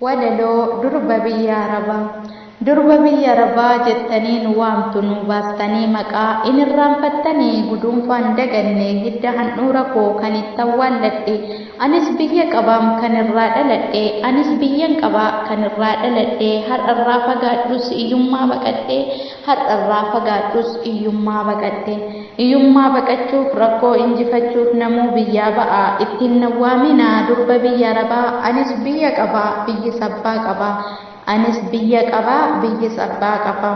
Walaloo, Durba Biyya Arabaa Durba biyya Arabaa jettanii nu waamtu nuu baastanii maqaa Hin irraanfattanii guduunfaan daganne hidda handhuura koo kan itti awwaalladhe Anis biyya qabaam kan irraa dhaladhe Anis biyyan qaba kan irraa dhaladhe Har'a irraa fagaadhus iyyummaa baqadhe Har'a irraa fagaadhus iyyummaa baqadhe Iyummaa baqachuuf rakkoo injifachuuf namuu biyyaa ba'a ittiin nawwaamina durba biyya arabaa anis biyya qaba biyyis abbaa qaba anis biyya qaba biyyis abbaa qaba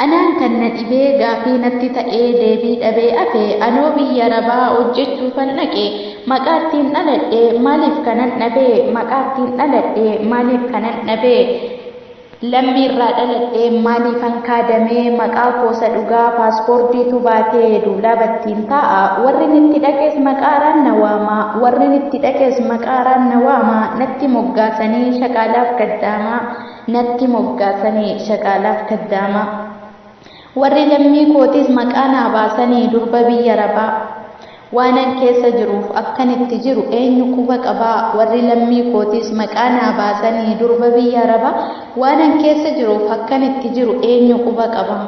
anaan kan na dhibee gaafii natti ta'ee deebii dhabee afe anoo biyya arabaa hojjechuufan dhaqe maqaa ittiin dhaladhe maaliif kanan dhabee maqaa ittiin dhaladhe maaliif kanan dhabee Lammii irraa dhaladhe maaliifan kaadame maqaa koo isa dhugaa paaspoordiitu baate duulaa battiin taa'a warrin itti dhaqes maqaa araan na waama warrin itti dhaqes maqaa araan na waama natti moggaasanii shaqaalaaf kaddaama natti moggaasanii shaqaalaaf kaddaama. Warri lammii kootiis maqaa naa baasanii durba biyya Arabaa waanan keessa jiruuf akkan itti jiru eenyu quba qabaa? Warri lammii kootiis maqaa naa baasanii durba biyya Arabaa waanan keessa jiruuf akkan itti jiru eenyu quba qabaa?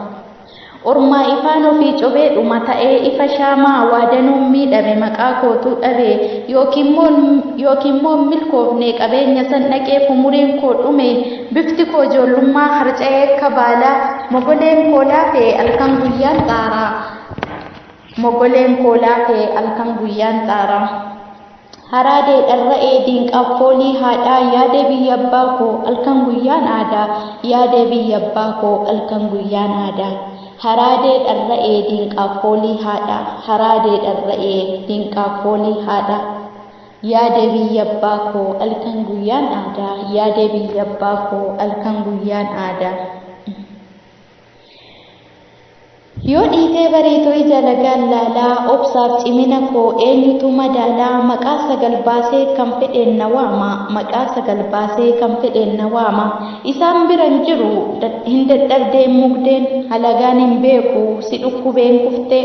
Ormaa ifaan ofii cobee dhuma ta'ee ifa shaamaa waa danuun miidhame maqaa kootuu dhabee yookiin moo hin milkoofne qabeenya san dhaqee fumuriin koo dhume Bifti koo ijoollummaa harca'ee akka baalaa Mogoleen koo laafee halkan guyyaan xaaraa Mogoleen koo laafee halkan guyyaan xaaraa Haraadee dharra'ee diinqaaf foolii haadhaa Yaadee biyya abbaa koo halkan guyyaan aadaa Yaadee biyya abbaa koo halkan guyyaan aadaa Haraadee dharra'ee diinqaaf foolii haadhaa Haraadee dharra'ee diinqaaf foolii haadhaa Yaa deebii yabbaa koo alkan guyyaan aadaa Yaa deebii yabbaa koo alkan guyyaan aadaa Yoo dhiitee bariitoo ija lagaan laalaa Obsaaf cimina koo eenyutu madaalaa Maqaa sagal baasee kan fedheen na waama Maqaa sagal baasee kan fedheen na waama Isaan bira hin jiru hin dadhabdee hin mugdeen Halagaan hin beeku si dhukkubeen kuftee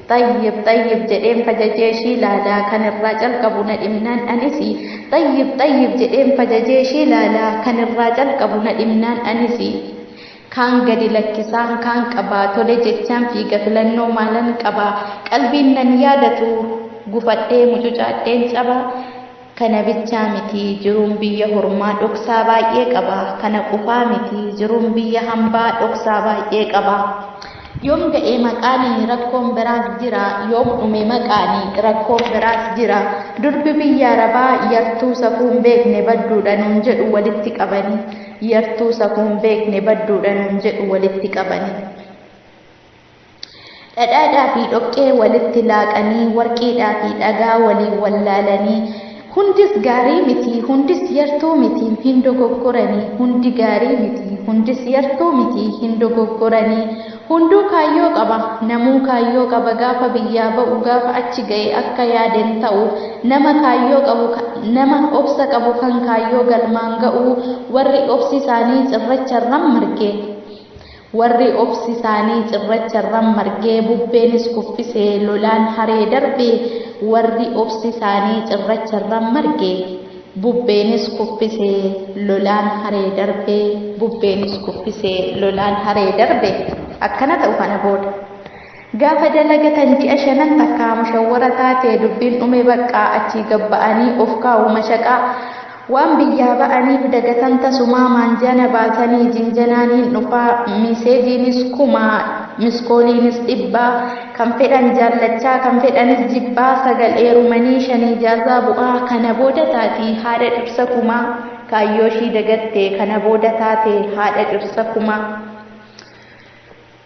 Xayyib xayyib jedheen fajajee ishii laalaa kan irraa calqabu na dhibnaan anisi Xayyib xayyib jedheen fajajee ishii laalaa kan irraa calqabu na dhibnaan anisi Kaan gadi lakkisaan kaan qaba tole jechaan fiiga filannoo maalan qaba Qalbiin nan yaadatu gufadhee mucucaadheen caba Kana bichaa miti, jiruun biyya hormaa dhoksaa baay'ee qaba. Kana qofaa miti, jiruun biyya hambaa dhoksaa baay'ee qaba. Yoom ga'e maqaani rakkoon biraas jira, yoom dhume maqaani rakkoon biraas jira. Durbi biyya Arabaa yartuu safuu hin beekne badduudha nuun jedhu walitti qabani. Yartuu safuu hin beekne badduudha nuun jedhu walitti qabani. Dhadhaadhaa fi dhoqqee walitti laaqanii, warqiidhaa fi dhagaa waliin wal laalanii, Hundis gaarii miti, hundis yartuu miti, hin dogoggorani, hundi gaarii miti, hundis yartuu miti, hin dogoggorani, hunduu kaayyoo qaba, namuu kaayyoo qaba, gaafa biyyaa ba'u, gaafa achi ga'e akka yaade hin ta'u, nama kaayyoo qabu, nama obsa qabu kan kaayyoo galmaan ga'u, warri obsi isaanii cirracharran marge. Warri obsi isaanii cirracha irra margee bubbeenis kuffisee lolaan haree darbe Warri obsi isaanii cirracha irra marge bubbeenis kuffisee lolaan haree darbe. bubbeenis kuffisee lolaan haree darbe. Akkana ta'u kana booda. Gaafa dalagatan ji'a shanan takkaa mushawwara taate dubbiin dhume baqqaa achii gad ba'anii of kaa'u mashaqaa. Waan biyyaa ba'aniif dagatan tasumaa maanjana baasanii jinjanaan hin dhufaa miiseejiinis kuma miskooliinis dhibba kan fedhan jaallachaa kan fedhanis jibbaa sagal eerumanii shan ijaazaa bu'aa kana booda taati haadha dhirsa kumaa kaayyooshii dagatte kana booda taate haadha dhirsa kumaa.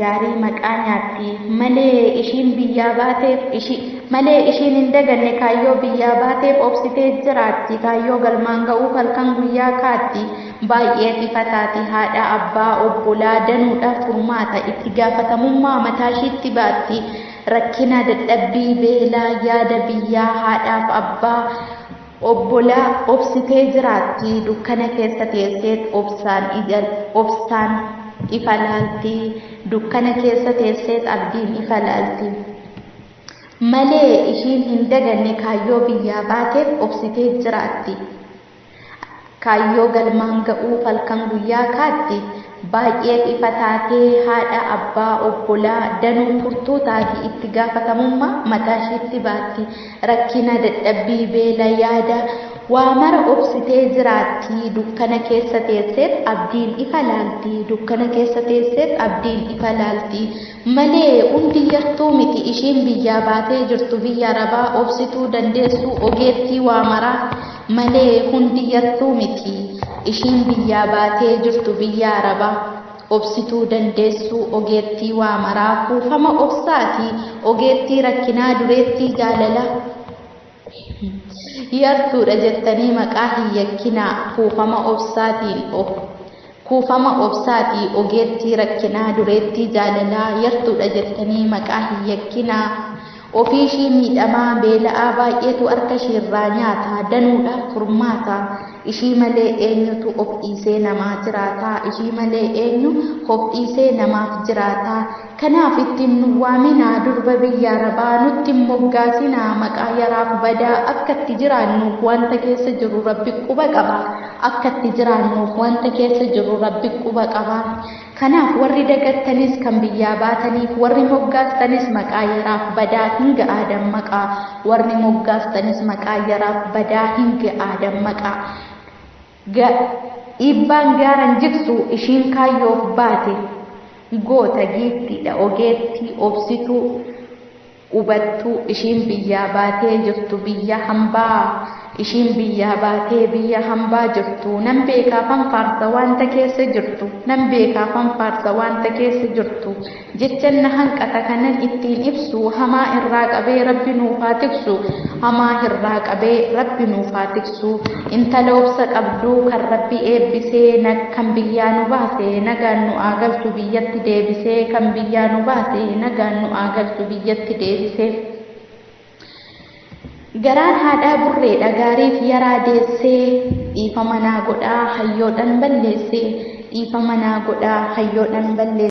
gaarii maqaa nyaatti malee ishiin biyyaa baateef ishi malee ishiin hin daganne kaayyoo biyyaa baateef obsitee jiraatti kaayyoo galmaan ga'uuf halkan guyyaa kaatti baay'ee xifataati haadha abbaa obbolaa danuudhaaf furmaata itti gaafatamummaa mataashiitti baatti rakkina dadhabbii beelaa yaada biyyaa haadhaaf abbaa Obbola obsitee jiraatti dukkana keessa teesseet obsaan ija obsaan ifa laalti dukkana keessa teesseet abdiin ifa laalti malee ishiin hin daganne kaayyoo biyyaa baateef obsiteet jiraatti. Kaayyoo galmaan ga'uuf halkan guyyaa kaatti, baay'eef ifa taatee, haadha, abbaa, obbolaa, danuu, furtuu taati, itti gaafatamummaa mataashiitti baatti, rakkina, dadhabbii, beela, yaada, waa mara obsitee jiraatti, dukkana keessa teesseet abdiin ifa laalti, dukkana keessa teesseet abdiin ifa laalti, malee hundi yartuu miti ishiin biyyaa baatee jirtu biyya arabaa obsituu dandeessuu ogeettii waa maraa malee hundi yartuu miti ishiin biyyaa baatee jirtu biyya arabaa obsituu dandeessuu ogeettii waa maraa kuufama obsaati ogeettii rakkinaa dureettii jaalalaa. Yartuudha jettanii maqaa hin yakkinaa kuufama obsaatiin ok Kuufama obsaati ogeettii rakkinaa dureettii jaalalaa Yartuudha jettanii maqaa hin yakkinaa Ofiishii miidhamaa beela'aa baay'eetu harkashiirraa nyaata Danuudhaaf furmaata Ishii malee eenyutu of dhiisee namaa jiraata Ishii malee eenyu of dhiisee namaaf jiraata Kanaaf itti hin nu waaminaa durba biyya arabaa nutti hin moggaasinaa maqaa yaraaf badaa akka itti jiraannuuf wanta keessa jirru rabbi quba qaba akka itti jiraannuuf wanta keessa jirru rabbi quba qaba kanaaf warri dagattanis kan biyyaa baataniif warri moggaastanis maqaa yaraaf badaa hin ga'aa dammaqaa warri moggaastanis maqaa yaraaf badaa hin ga'aa dammaqaa Ga, iibbaan gaara hin jigsu ishiin kaayyoof baate goota giiftiidha ogeettii obsituu ubattuu ishiin biyyaa baatee jirtu biyya hambaa ishiin biyyaa baatee biyya hambaa jirtu nan beekaafan faarsa waanta keessa jirtu nan beekaafan faarsa waanta keessa jirtu Jechan na hanqata kanan ittiin ibsu hamaa irraa qabee rabbi nuuf haa tiksu hamaa hirraa qabee rabbi nuuf haa tiksu intala obsa qabdu kan rabbi eebbise nag kan biyyaa nu baase nagaan nu aa galchu biyyatti deebise kan biyyaa nu baase nagaan nu aa galchu biyyatti deebise Garaan haadhaa burreedha gaariif yaraa deessee dhiifama naa godhaa hayyoodhan balleessee dhiifama naa godhaa hayyoodhan balleessee.